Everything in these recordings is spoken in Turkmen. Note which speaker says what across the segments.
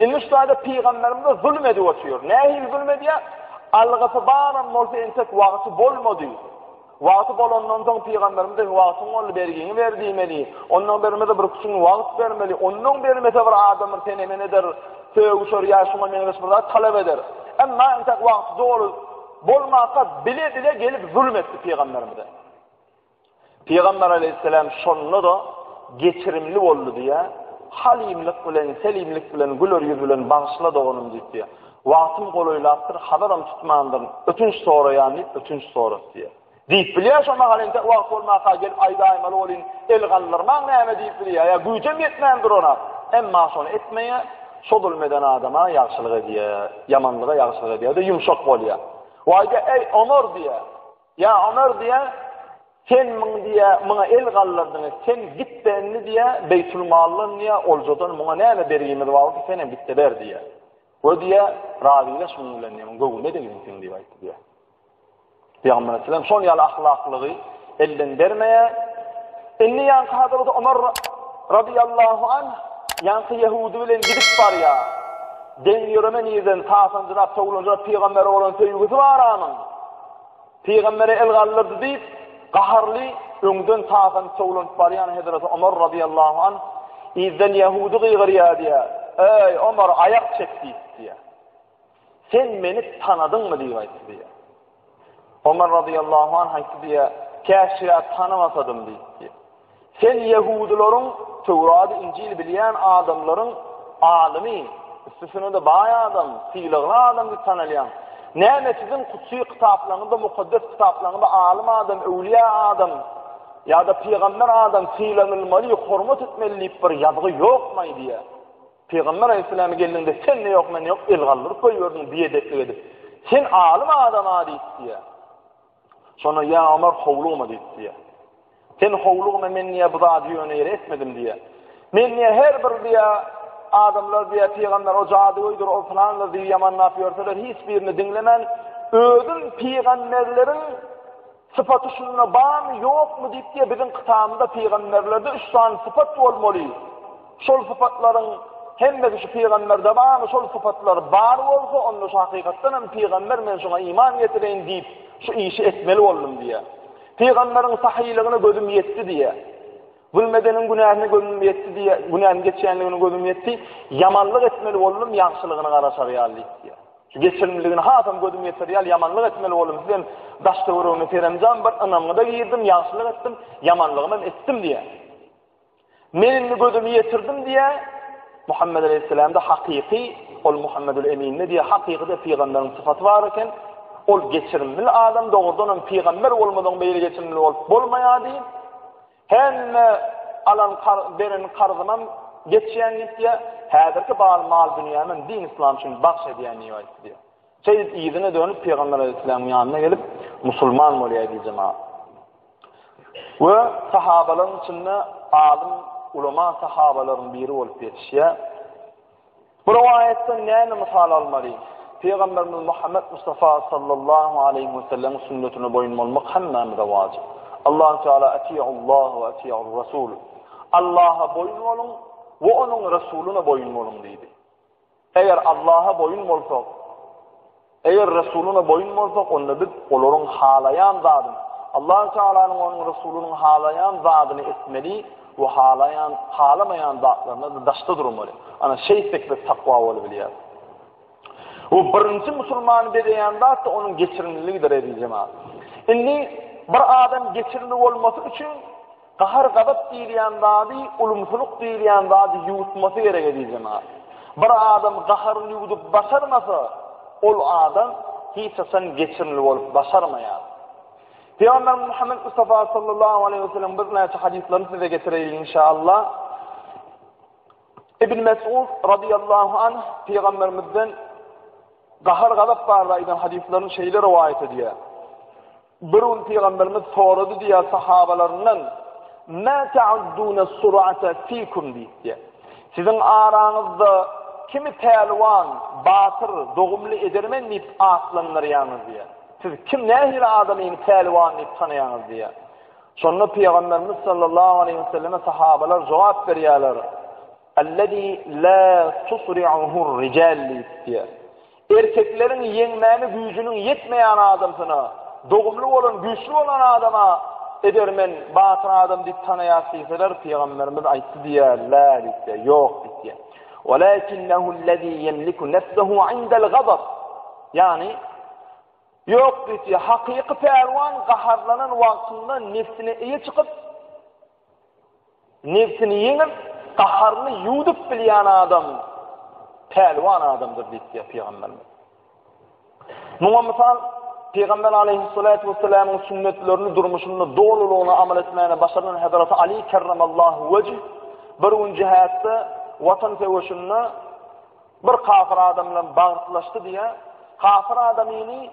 Speaker 1: Indi şu taýda pygamberimize zulum edip otyr. Nähili zulum edýär? Algysy baram bolsa entek wagty bolmady. Wagty bolandan soň pygamberimize wagtyň boldy bergiňi ber diýmeli. Ondan bermese bir küçük wagt bermeli. Ondan bermese bir adam bir sene men eder. Sögüşer ýa şuňa meňzeş bir zat talap eder. Emma entek wagty doly bolmasa bile bile gelip zulum etdi pygamberimize. Pygamber aleýhisselam şonda-da geçirimli boldy diýýär, Halymlyk bilen, selimlik bilen, güler ýüz bilen bagyşla doganym diýip diýýär. Wagtym golaýlapdyr, hazaram tutmandyryn, ötünç soraýan diýip ötünç sorat diýýär. Diýip bilýär, şo mahal entek wagt bolmanka gelip aýdaýmaly bolyn, el galdyrmaň näme diýip bilýär, ýa güýjem ýetmän durana, emma şony etmeýär, şo zulum eden adama ýagşylyk edýär, ýamanlyga ýagşylyk edýär, bir-de ýumşak bolýar. We aýdýar, Eý, Omar diýýär. Ýa Ömer diýýär, Sen muň diýýär, muňa el galdyrdyň, sen git-de indi diýýär, Beýtulmaldan diýýär, oljadan muňa näme bergimiz bar bolsa, sen hem git-de ber diýýär. We diýýär, Razylaş munuň bilen diýýär, muň göwnüne degsin seň diýip aýtdy diýýär. Pygamber Aleyhisselam şol ýaly ahlaklygy elden bermeýär. Indi ýanky Hazreti Ömer radiyallahu an ýanky Yahudi bilen gidip barýar. Den ýöreme nirden tasanjyrap, towlanjyrap pygambere bolan söýgüsi bar anyň. Pygamberi el galdyrdy diýip, gaharly, öňden taýsanyp towlanyp barýan Hezreti Omar razyýallahu anh yzdan ýahudy gygyrýar diýýär, Eý, Omar, aýak çek! diýip, diýýär. Sen meni tanadyňmy diýip aýtdy diýýär. Omar razyýallahu anh aýtdy diýýär, Käşgä tanamasadym diýip, diýýär. Sen ýehudylaryň, Töwrady, Injili bilýän adamlaryň alymy, üstesine-de baý adam, sylagly adam diýip tanalýaň. Näme siziň kutsy kitaplaryňyzda, mukaddes kitaplaryňyzda alym adam, öwlüýä adam ýa-da pygamber adam sylanylmaly, hormat etmeli diýip bir ýazgy ýokmaý diýýär. Pygamber Aleyhisselam geldiňde sen ne ýok men ýok el galdyryp goýberdiň biedeplik edip. Sen alym adam-a diýip diýýär. Şonda ýa Omar howlugma diýip diýýär. Sen howlugma men diýýär bu zady ýöne ýere etmedim diýýär. Men diýýär her bir diýýär adamlar diýýär pygamber o jadygöýdir o pylandyr diýip ýamanlap ýörseler hiç birini diňlemän özüm pygamberleriň sypaty şunda barmy ýokmy diýip diýýär biziň kytabymyzda pygamberlerde üç sany sypat bolmaly. Şol sypatlaryň hemmesi şu pygamberde barmy? Şol sypatlar bar bolsa, onda şu hakykatdan hem pygamber men şuňa iman getireýin diýip, şu işi etmeli boldum diýýär. Pygamberiň sahylygyna gözüm ýetdi diýýär. Zulmedeniň günäsine gözüm ýetdi diýýär. Günäni geçýänligine gözüm ýetdi. Ýamanlyk etmeli boldum, ýagşylygyny gara çarýar diýýär. Şu geçirimligini hasam gözüm ýetirýär, ýamanlyk etmeli boldum. Sizem daş-töweregine seremjan bir ynamyňyza girdim, ýagşylyk etdim, ýamanlygymy etdim diýýär. Men indi gözümi ýetirdim diýä, Muhammed aleýhissalamda hakyky, ol Muhammedül Eminde diýä hakykyda pygamberiň sypaty bar eken, ol geçirimli adam, dogrudan hem pygamber bolmadan beýle geçirimli bolup bolmaýardy. Hemme alan beren karzymam geçýän diýip diýä, häzirki bar mal dünýämi din islam üçin bagş edýän diýip aýtdy diýä. Seýit yzyna dönüp Pygamber Aleyhisselamyň ýanyna gelip musulman bolýar diýjek maňa. We sahabalaryň içinde alym ulama sahabalaryň biri bolup ýetişýär. Bu rowaýatdan näme mysal almaly? Pygamberimiz Muhammed Mustafa sallallahu aleyhi we sellem sünnetine boýun bolmak hemmämize wajyp. Allahu Teala atiýullah we atiýur rasul. Allaha boýun boluň we onuň resulyna boýun boluň diýdi. Eger Allaha boýun bolsak, eger Resulyna boýun bolsak, onda biz olaryň halaýan zadyny, Allahu Tealanyň onuň Resulynyň halaýan zadyny etmeli we halaýan, halamaýan zatlaryna da daşda durmaly. Ana şeýtsek biz takwa bolup bilýäris. Bu birinji musulmany bezeýän zat da onuň geçirimliligidir eziz jemaat. Indi bir adam geçirimli bolmasy üçin Gahar-gazap diýilýän zady, ulumsylyk diýilýän zady ýuwutmasy gerek eziz jemagat. Bir adam gaharyny ýuwudyp başarmasa, ol adam hiç haçan geçirimli bolup başarmaýar. Pygamberimiz Muhammed Mustafa sallallahu aleyhi ve sellem birnäçe hadyslaryny size getireýin inşallah. Ibn Mes'ud radiyallahu anh Pygamberimizden gahar-gazap barada aýdan hadyslaryny şeýle rowaýat edýär. Bir gün Pygamberimiz sorady diýýär sahabalaryndan, Mä ta'udduna sur'ata fikum diýipdi. Siziň araňyzda kimi pälwan, batyr, dogumly edermen diýip atlandyrýaňyz diýýär. Siz kim nähili adamy indi pälwan diýip tanaýaňyz diýýär. Şonda Pygamberimiz sallallahu aleýhi we selleme sahabalar jogap berýärler, Allazi la tusri'uhur rical diýip diýýär. Erkekleriň ýeňmäne güýjüniň ýetmeýän adamsyna, dogumly bolan, güýçli bolan adama edermen, batyr adam diýip tanaýas diýseler, Pygamberimiz aýtdy diýýär, Lä diýse, ýok diýse. Walakinnehullezî ýemliku nefsehu indel gazab. Ýagny, ýok diýse, hakyky pälwan gaharlanan wagtynda nefsine eýe çykyp, Nebsini ýeňip, gaharyny ýuwdup bilýän adam pälwan adamdyr diýipdir pygamberimiz. Muňa mysal Pygamber aleyhissalatu vesselamyň sünnetlerini durmuşynda dolulygyna amal etmäni başaran Hazreti Ali kerramallahu wejh bir gün jihatda watan söweşinde bir kafir adam bilen bagtlaşdy diýä. Kafir adamyny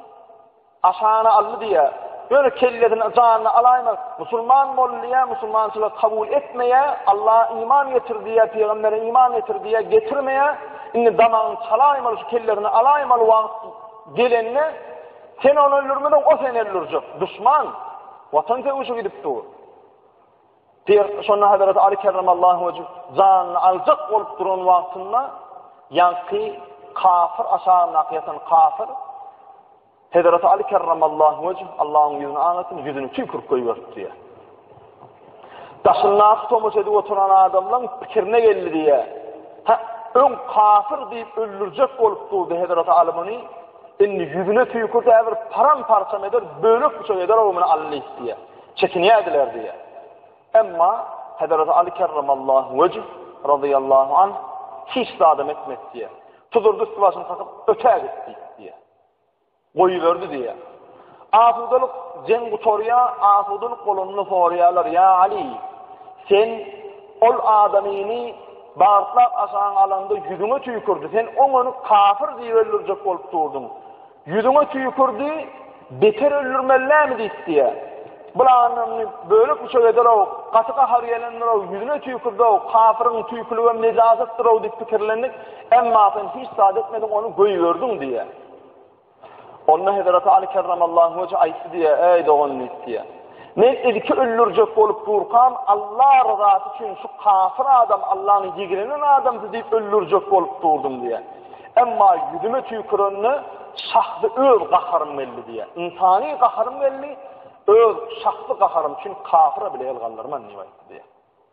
Speaker 1: Aşana aldy diýýä. Ýöne kellesini janyny alaýma. Musulman bol diýýä, musulmançylygy kabul etmeýä, Alla iman getir diýýä, pygambere iman getir diýýä, getirmeýä. Indi damagyny çalaýmaly, şu kellesini alaýmaly wagt gelende sen ony öldürmeden o seni öldürjek. Duşman. Watan söwüşi gidip dur. Diýip, şonda Hazreti Ali kerramallahu wejh janyny aljak bolup duran wagtynda ýaňky kafir aşagyndaky ýatan kafir Hazreti Ali kerramallahu wejh Allahyň ýüzüne aňasyn ýüzüni tüýkürip goýberdi diýär. Daşyndaky tomaş edip oturan adamlaryň pikirine geldi diýär. Ha, öň kafir diýip öldürjek bolup durdy Hazreti Ali muny. Indi ýüzüne tüýkürdi, äbir param parçam eder, bölek bıçak eder, o muny allyk diýär. Çekinýärdiler diýýär. Emma Hezreti Aly kerremallahu wejh radiyallahu anh hiç zadam etmedi diýýär. Tuzurdy üstü başyny sakyp ötä gitdi diýýär. Goýuberdi diýýär. Asudalyk jeň gutarýa, asudalyk bolanda soraýarlar, "Ya Ali, sen ol adamyny bagyrtlap aşagyň alanda ýüzüňe tüýkürdi. Sen oňony kafir diýip öldürjek bolup durdyň. Ýüzüňe tüýkürdi, beter öldürmeli näme diýip diýýä. Bularyny bölek-büçek eder-ow, gaty gahary gelendir-ow, ýüzüne tüýkürdi-ow, kafyryň tüýküligem nejasatdyr-ow diýip pikirlendik, emma sen hiç zat etmediň, ony goýberdiň diýýä. Onda Hezreti Aly kerramallahu weje aýtdy diýýä, Äý dogan diýip diýýä. Men ilki öldürjek bolup durkam, Alla ryzasy üçin şu kafir adam Allanyň ýigrenýän adamsy diýip öldürjek bolup durdum diýýär. Emma ýüzüme tüýkürende şahsy öz gaharym geldi diýýär. Ynsany gaharym geldi, öz şahsy gaharym üçin kafira bile el galdyrman diýip aýtdy diýýär.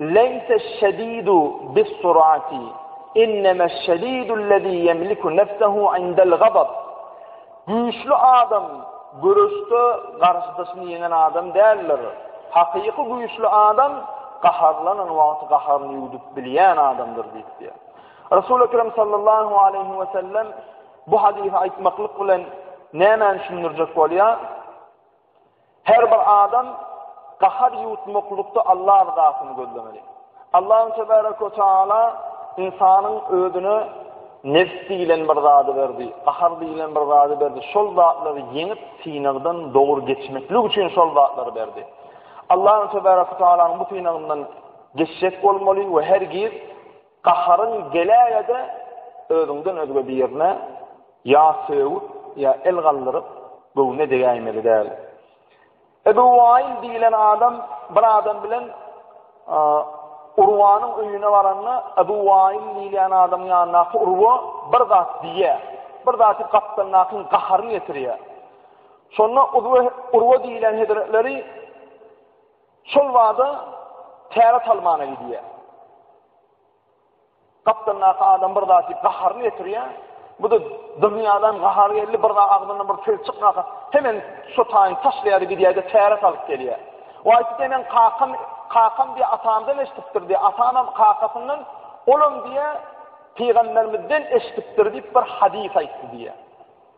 Speaker 1: Leýseş-şedidu bis-surati, innemeş-şedidullezî ýemliku nefsehu indel-gazab, Güýçli adam göreşde garşydaşyny ýeňen adam däldir. Hakyky güýçli adam gaharlanan wagty gaharyny ýuwdup bilýän adamdyr diýipdir. Resul Ekrem sallallahu aleýhi we sellem bu hadysy aýtmaklyk bilen nämäni düşündirjek bolýar? Her bir adam gahar ýuwutmaklykda Allah ryzasyny gözlemeli. Allahun tebaraka we taala ynsanyň özüne nefs diýilen bir zady berdi, gahar diýilen bir zady berdi. Şol zatlary ýeňip, synagdan dogry geçmeklik üçin şol zatlary berdi. Allahun tebaraka we taalanyň bu synagyndan geçjek bolmaly we her giz Gaharyň geläge-de özüňden özge birine ýa sögüp, ýa el galdyryp, göwne degäýmeli däl. Ebu Waýl diýlen adam bir adam bilen Urwanyň öýüne baranda, Ebu Waýl diýilýän adamyň ýanyndaky Urwa bir zat diýýär. Bir zaty gapdalyndakyň gaharyny getirýär. Şonda Urwa diýlen hezretleri Şol bada täre talmana gidýär. Gapdalyndaky adam bir zat diýip gaharyny getirýär. Bu da dünýäden gahar geldi, bir zat agzyndan bir söz çykmasa, hemen şotaýyn taşlaýar gidýär-de täre salyp gelýär. Waýt denen kakam, kakam diýip atamdan eşitipdir diýip, atamam kakasyndan olam diýip pygamberimizden eşitipdir diýip bir hadys aýtdy diýip.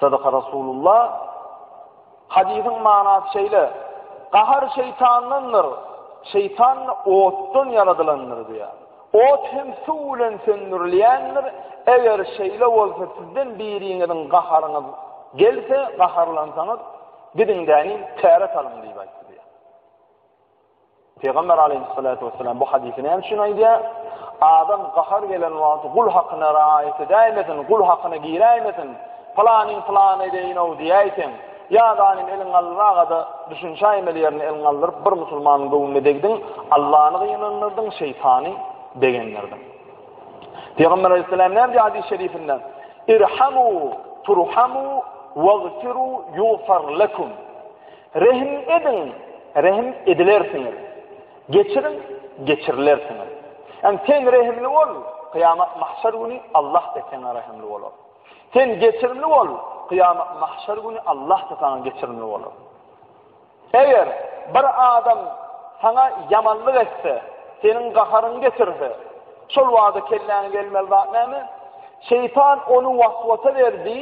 Speaker 1: Sadaka Rasulullah, Hadysyň manasy şeýle, Gahar şeýtandandyr, şeýtan otdan ýaradylandyr diýýär. Ot hem suw bilen söndürilýändir, eger şeýle bolsa sizden biriňiziň gaharyňyz gelse, gaharlansaňyz, gidiň-de, käret alyň diýip aýtdy diýýär. Pygamber aleýhissalatu wesselam bu hadysy näme üçin aýdýar? Adam gahar gelen wagty gul hakyna raýat edäýmesin, gul hakyna giräýmesin. Pylanyň pylany edeýin-ow diýäýseň, ýa zalim eliň alynmagada düşünşäýmeli ýerine eliň aldyryp bir musulmanyň göwnüne degdiň, Allany gynandyrdyň, şeýtany begendirdiň. Pygamber aleýhissalam näme diýýär hadys şerifinde? Irhamu turhamu wagfiru yughfar lekum. Rehim ediň, rehim edilersiňiz. Geçiriň, geçirilersiňiz. Ýagny sen rehimli bol, kyýamat mahşer güni Allah-da saňa rehimli bolar. Sen geçirimli bol, kyýamat mahşer güni Allah-da saňa geçirimli bolar. Eger bir adam saňa ýamanlyk etse, seniň gaharyňy getirse, şol wagtda kelläňe gelmeli zat näme? Şeýtan ony waswasa berdi.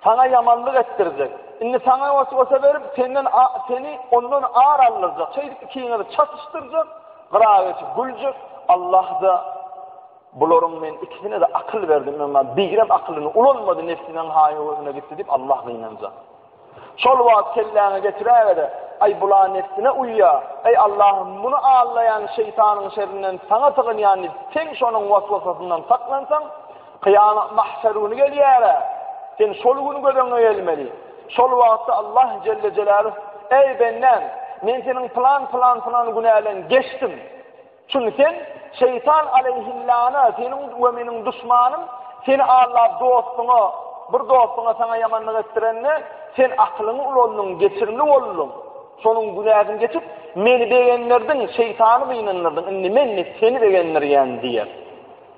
Speaker 1: Saňa ýamanlyk etdirjek. Indi saňa weswese berip, senden a, seni ondan ar aldyrjak. Şeýdip ikiňizi çatyşdyrjak, gyra geçip güljek. Allah-da, Bularyň men ikisine-de akyl berdim, emma bigrem akylyny ulanmady, nebsiniň haý-huwusyna gitdi diýip, Allah gynanjak. Şol wagt kelläňe getiräwere, Aý, bula nebsine uýýar. Eý, Allahym, muny aldaýan şeýtanyň şerrinden saňa sygynýan diýip, sen şonuň weswesasyndan saklansaň, Kyýamat mahşer güni gelýär-ä. Sen şol güni göz öňüňe gelmeli. Şol wagtda Allah jelle jelâluh, Eý, bendäm, men seniň pylan, pylan, pylan günäleň geçdim. Çünki sen şeýtan aleýhillana, seniň we meniň duşmanym, seni aldap dostuňa, bir dostuňa saňa ýamanlyk etdirende, sen akylyňy ulandyň, geçirimli bolduň. Şonuň günäsini geçip, meni begendirdiň, şeýtany gynandyrdyň. Indi men seni begendirýän diýer.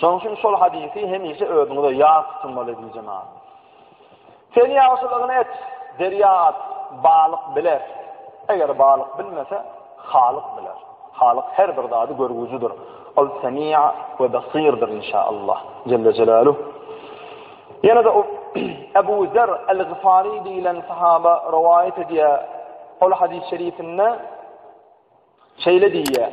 Speaker 1: Şonuň üçin şol hadysy hemişe özüňize ýat tutmaly diýjän adam. Sen ýagşylygyny et, derýa at, balyk biler. Eger balyk bilmese, halyk biler. Halyk her bir zady görgüjidir. Ol semi'a we basirdir inşallah. Celle Jelaluh. Ýene de Ebu Zer el-Gifari diýilen sahaba rowaýat edýär. Ol hadys şerifinde şeýle diýýär.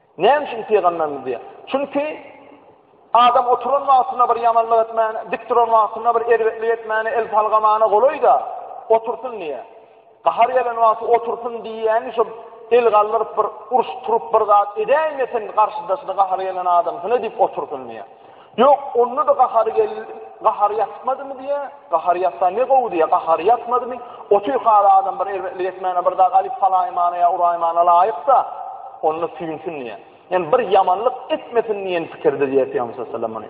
Speaker 1: Näme üçin pygamberimiz diýýär? Çünki adam oturan wagtyna bir ýamanlyk etmäne, dik duran wagtyna bir erbetlik etmäne, el salgamana golaý-da, otursyn diýýär. Gahar gelen wagty otursyn diýýäni şu el galdyryp bir uruş turup bir zat edäýmesin garşydaşyna gahar gelen adamsyna diýip otursyn diýýär. Ýok, onda-da gahary geldi, gahary ýatmadymy diýýä, gahary ýatsa ne gowy diýýä, gahary ýatmadymy, otyr hal adam bir erbetlik etmäne bir zat alyp salaýmana ýa uraýmana laýyk-da, onda süýnsin diýýä. Ýani bir ýamanlyk etmesin diýen pikirde diýýär Pygamberimiz sallallahu aleyhi ve sellem muny.